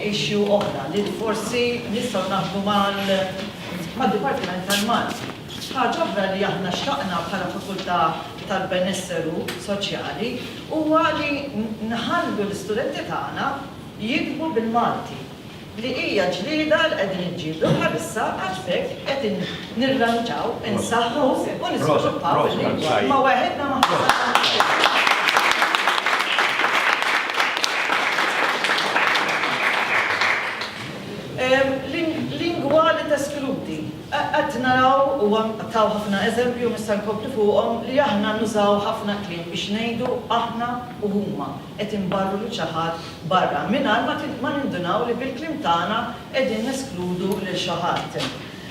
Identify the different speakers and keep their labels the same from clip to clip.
Speaker 1: issue oħra li forsi nistgħu naħdmu mal-Dipartiment tal-Malti. Ħaġa oħra li aħna xtaqna bħala fakultà tal-benesseru soċjali huwa li nħallu l-istudenti tagħna jiktbu bil-Malti, li hija ġlieda li qegħdin inġieldu bħalissa għax b'hekk qed nirranġaw, insaħħu u niżviluppaw il-lingwa imma waħedna maħniex. Lingwa li teskludi. Qed naraw, u taw ħafna eżempji u nista' nkompli fuqhom, li aħna nużaw ħafna kliem biex ngħidu aħna u huma. qed inbarru lil xi ħadd barra mingħajr ma ma nindunaw li bil-kliem tagħna qegħdin neskludu lil xi ħadd.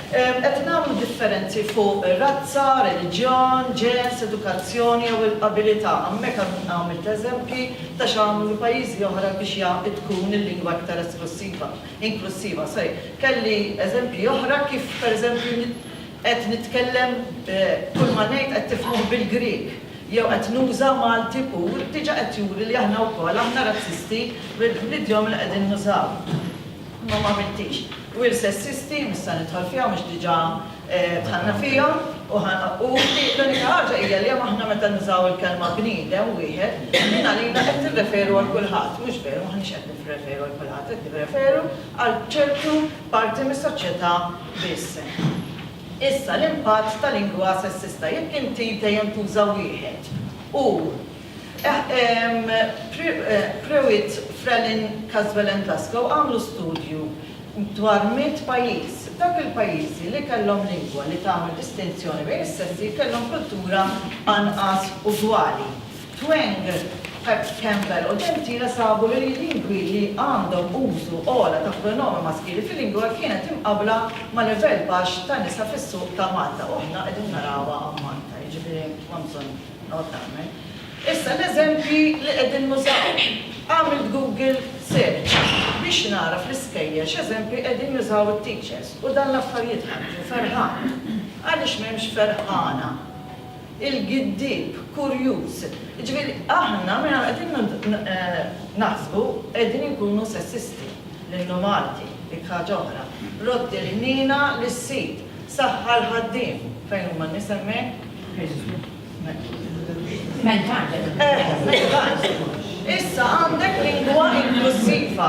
Speaker 1: Qed nagħmlu differenzi fuq razza, reliġjon, ġens, edukazzjoni jew il-qabilità, hawnhekk għamilt eżempji ta' x'għamlu pajjiżi oħra biex ja tkun il-lingwa iktar esklussiva, inklussiva, sorry, kelli eżempji oħra kif pereżempju qed nitkellem kull ma ngħid qed tifhmuh bil-Grieg. jew qed nuża Malti pur diġa qed juri li aħna wkoll aħna razzisti bl-idjom li qegħdin nużaw. Imma ma għamiltix. We're sessisti, mhux se nidħol fiha mhux diġa dħalna fiha, u l-unika ħaġa hija li aħna meta nużaw il-kelma bniedem wieħed din għalina qed nirreferu għal kulħadd, mhux veru m'aħniex qed nirreferu għal kulħadd qed nirreferu għal ċertu parti mis-soċjeta biss. Issa, l-impatt ta' lingwa sessista, jekk inti dejjem tuża wieħed, u, Pruitt, Freleng, Caswell and Glasgow għamlu studju dwar mitt pajjiż. F'dawk il-pajjiżi li kellhom lingwa li tagħmel distinzjoni bejn is-sessi kellhom kultura anqas ugwali. Tweng, Pat Campbell u Gentile sabu li l-lingwi li għandhom użu ogħla ta' pronomen maskili fil-lingwa kienet imqabbla ma' livell baxx ta' nisa fis-suq ta' Malta, u aħna qegħdin narawha hawn Malta, jiġifieri m'hemm bżonn noqgħod nagħmel. Issa l-eżempji li qegħdin nużaw. Għamilt Google search biex nagħraf l-iskejjel x'eżempji qegħdin jużaw it-teachers u dan l-affarijiet ħarġu, ferħan. Għaliex m'hemmx ferħana? il-giddieb, kurjuż. Jiġifieri aħna mela qegħdin naħsbu qegħdin inkunu sessisti lill-nu Malti, dik ħaġa oħra. Rodd il-ħniena lis-sid, saħħa l-ħaddiem. Fejn huma n-nies hemmhekk? Issa għandek lingwa inklussiva.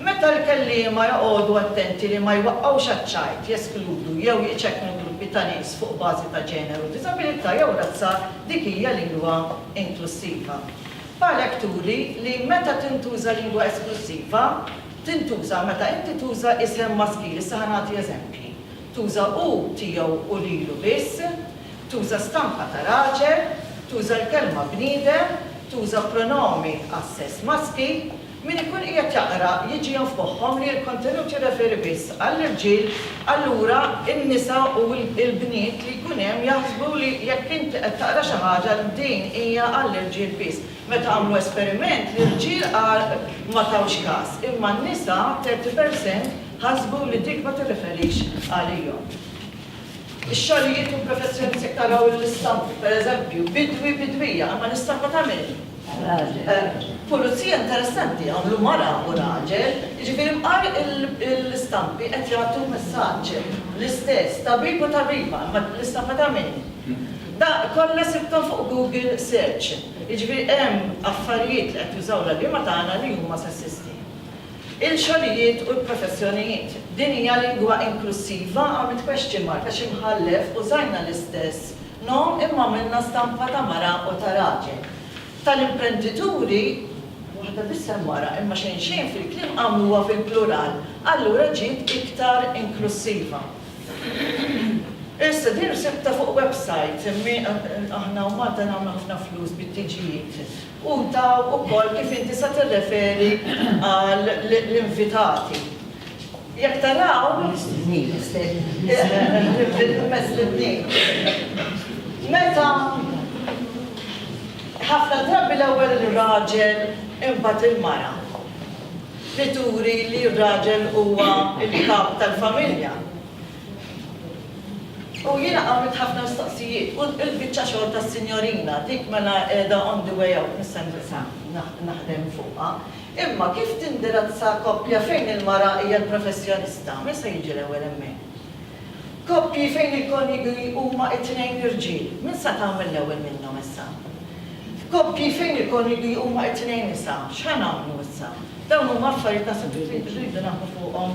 Speaker 1: Meta l-kelliema joqogħdu attenti li ma jwaqqgħux għaċ-ċajt, jeskludu jew jiċekknu gruppi ta' nies fuq bażi ta' ġeneru, diżabilità jew razza, dik hija lingwa inklussiva. Palek turi li meta tintuża lingwa esklussiva, tintuża meta inti tuża isem maskil, issa ħa nagħti eżempji, tuża hu, tiegħu u lilu biss, tuża stampa ta' raġel, tuża l-kelma bniedem, tuża pronomi għas-sess maskil, Min ikun qiegħed jaqra jiġihom f'moħħhom li l-kontenut jirreferi biss għall-irġiel, allura n-nisa u l-bniet li jkun hemm jaħsbu li jekk inti qed taqra xi ħaġa din hija għall-irġiel biss. Meta għamlu esperiment, l-irġiel ma tawx kas, imma n-nisa, 30 per cent, ħasbu li dik ma tirreferix għalihom. Ix-xogħlijiet u l-professjonijiet jekk taraw l-istampi, pereżempju, bidwi, bidwija, imma l-istampa ta' min? Raġel. Pulizija interessanti, għamlu mara u raġel, jiġifieri bqal l-istampi qed jagħtu messaġġ l-istess, tabib u tabiba, imma l-istampa ta' min? Da kollha sibthom fuq Google Search, jiġifieri hemm affarijiet li qed jużaw l-għalliema tagħna li huma sessisti. il-xogħlijiet u l-professjonijiet. Din hija lingwa inklussiva? Għamilt question mark għax imħallef użajna l-istess nom imma għamilna stampa ta' mara u ta' raġel. Tal-imprendituri, waħda biss hemm mara imma xejn xejn fil-kliem għamluha fil-plural, allura ġiet iktar inklussiva. Issa din sibtha fuq website, aħna u Malta nagħmlu ħafna flus bit-tiġijiet. U daw ukoll kif inti se tirreferi għal l-invitati. Jekk taraw, meta ħafna drabi l-ewwel ir-raġel imbagħad il-mara li turi li r-raġel huwa l-kap tal-familja. U jiena għamilt ħafna mistoqsijiet u l-biċċa xogħol tas-sinjorina dik mela qiegħda on the way out mis-sentenza naħdem fuqha. Imma kif tindirazza koppja fejn il-mara hija l-professjonista? Min se jiġi l-ewwel hemmhekk? Koppji fejn il-konjugi huma t-tnejn irġiel, min sa tagħmel l-ewwel minnhom issa? F'koppji fejn il-konjugi huma t-tnejn nisa, x'ħa nagħmlu issa? Dawn huma affarijiet naħseb li rridu naħdmu fuqhom.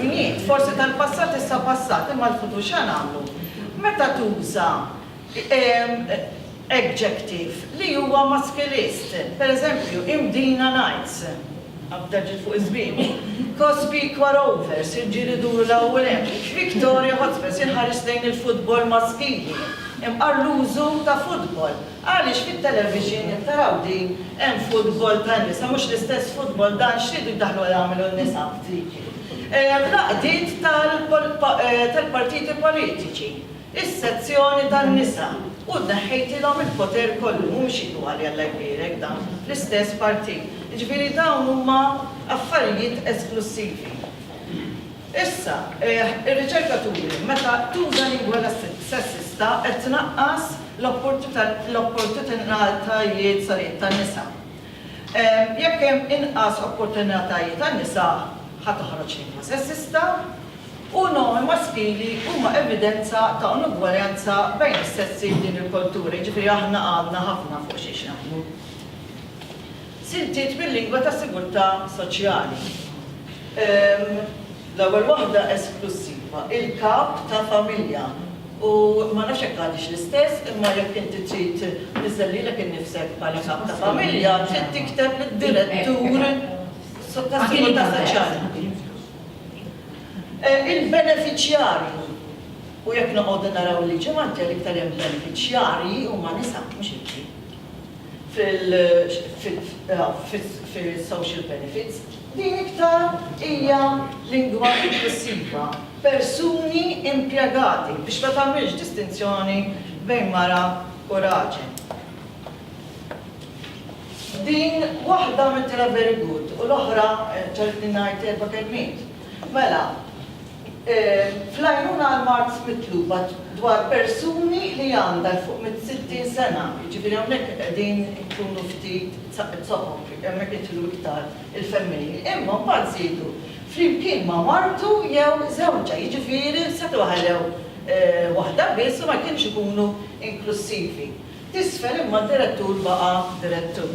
Speaker 1: Jien, forsi tal-passat issa passat, imma l-futur x'ha nagħmlu? Meta tuża adjective li huwa maskilist, per eżempju, imdina nights, abda ġiet fuq iż-żbiebu, cosby quarovers, irġiel iduru 'l hawn u 'l hemm, victoria hotspurs, inħares lejn il-futbol maskili, imqar l-użu ta' futbol. Għaliex fit-television jekk taraw din hemm futbol tan-nisa mhux l-istess futbol dan x'ridu jdaħħlu għal għamlu n-nisa f'diki fl-għaqdiet tal-partiti politiċi is-sezzjoni tan-nisa u tneħħejtilhom il-poter kollu mhumiex igwali Alla jbierek dan fl-istess partit jiġifieri dawn huma affarijiet esklussivi. Issa, eħ, ir-riċerka turi li meta tuża lingwa sessista qed tnaqqas l-opportutinatajiet, sorry, tan-nisa. Jekk hemm inqas opportunitajiet għan-nisa, ħa toħroġ lingwa sessista u n-normi maskili huma evidenza ta' inugwaljanza bejn is-sessi f'din il-kultura, jiġifieri aħna għadna ħafna fuq xiex naħdmu. Siltiet bil-lingwa tas-sigurtà soċjali. Ehm, l-ewwel waħda esklussiva, il-kap ta' familja. U ma nafx jekk għadix l-istess, imma jekk inti trid tniżżel lilek innifsek bħala kap ta' familja, trid tikteb lid-direttur tas-sigurtà soċjali. Eh, il-benefiċjarju. U jekk noqogħdu naraw il-liġi Malti għal iktar hemm benefiċjarji huma nisa, mhux irġiel. fis-social benefits, din iktar hija lingwa inklussiva, persuni impjegati, biex ma tagħmilx distinzjoni bejn mara u raġel. Din waħda għamiltilha very good u l-oħra ġagħlitni ngħid erba' kelmiet. Mela, fl-għajnuna għall-mard mitluba dwar persuni li għandha 'l fuq mis-sittin sena, jiġifieri hawnhekk qegħdin inkunu ftit zoqob, hemmhekk jidħlu iktar il-femminili, imma mbagħad żiedu flimkien ma' martu jew żewġha, jiġifieri setgħu ħallew waħda biss u ma kienx ikunu inklussivi. T'isfel imma d-direttur baqa' direttur.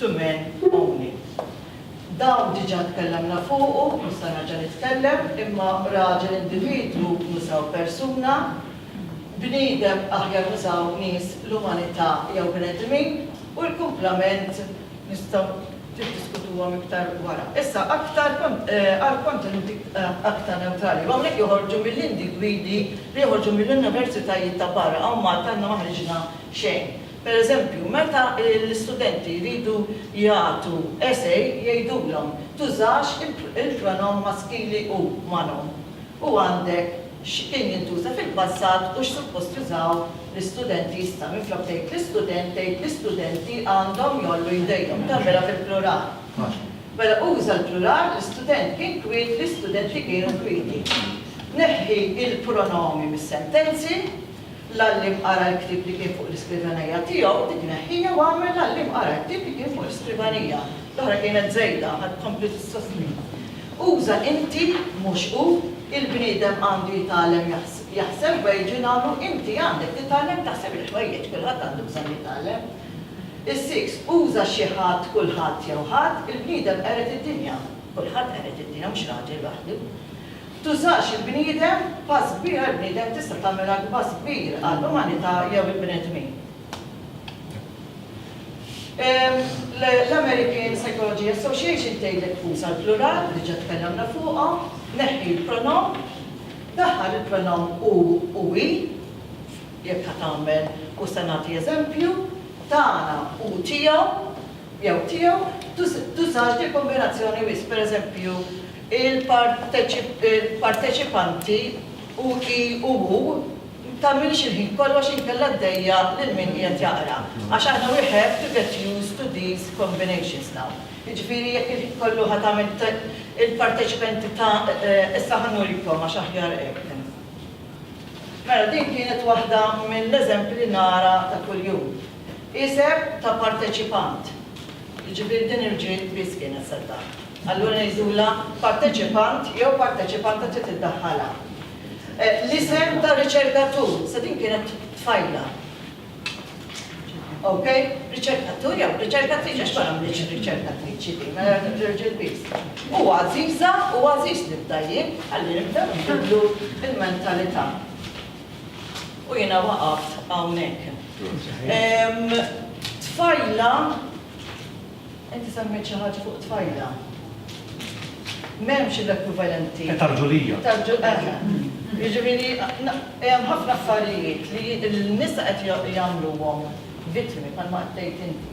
Speaker 1: to men only. Dawn diġà tkellemna fuqu, mhux se nerġa' nitkellem, imma raġel individwu nużaw persuna, bniedem aħjar nużaw nies l-umanità jew bnedmin u l-kumplament nistgħu tiddiskutuhom iktar wara. Issa aktar għal kontenuti aktar newtrali. Hawnhekk joħorġu mill-individwi li joħorġu mill-universitajiet ta' barra, hawn Malta aħna ma ħriġna xejn. Pereżempju, meta l-istudenti jridu jagħtu essay jgħidulhom, tużax il-pronoun maskili hu, manhom, u għandek x'kien jintuża fil-passat u x'suppost jużaw l-istudenti issa. Minflok tgħid l-istudent, tgħid l-istudenti għandhom jgħollu jdejhom. Tagħmilha fil-plural. Mela uża l-plural, l-istudent kien kwiet, l-istudenti kienu kwieti. Neħħi l-pronomi mis-sentenzi L-għalliem qara l-ktieb li kien fuq l-iskrivanija tiegħu, dik neħħiha u agħmel l-għalliem qara l-ktieb li kien fuq l-iskrivanija. L-oħra kienet żejda, ħa tkompli tissostni. Uża inti, mhux hu, il-bniedem għandu jitgħallem jaħseb, bha jiġu jingħamlu, inti għandek titgħallem taħseb il-ħwejjeġ, kulħadd għandu bżonn jitgħallem. Is-siks, uża xi ħadd, kulħadd jew ħadd, il-bniedem qered id-dinja, kulħadd qered id-dinja, mhux raġel waħdu. Tużax il-bniedem, pass kbir għall-bniedem tista' tagħmel anki pass kbir għall-umanità jew il-bnedmin. L-American Psychology Association tgħidlek tuża l-plural, diġà tkellimna fuqha, neħħi l-pronom, daħħal il-pronom hu u hi, jekk ħa tagħmel u se nagħti eżempju, tagħna u tiegħu jew tiegħu, tużax dil-kombinazzjoni wisq, pereżempju, il-parteċipanti u i u u tagħmilx il-ħin kollu għax inkella ddejja' lil min qiegħed jaqra għax aħna we have to get used to these combinations now jiġifieri jekk il-ħin kollu ħa tagħmel t il-parteċipenti ta' issa ħa nurikom għax aħjar hekk mela din kienet waħda mill-eżempji li nara ta' kuljum isem ta' parteċipant jiġifieri din irġiel biss kienet se tagħmel. allura ngħidulha parteċipant jew parteċipanta trid iddaħħalha. L-isem ta' riċerkatur, sa din kienet tfajla. Ok? Riċerkatur jew riċerkatriċi għax ma għamlitx riċerkatriċi din, mela nerġa' l-biss. U għażiża u għażiż nibda jien, ħalli nibda nbidlu l-mentalità. U jiena waqaft hawnhekk. Tfajla Inti semmejt xi ħaġa fuq tfajla. M'hemmx l-ekwivalenti. Età rġulija. Età rġulija. Jiġifieri hemm ħafna affarijiet li n-nisa qed jagħmluhom vittmi bħalma qed tgħid inti.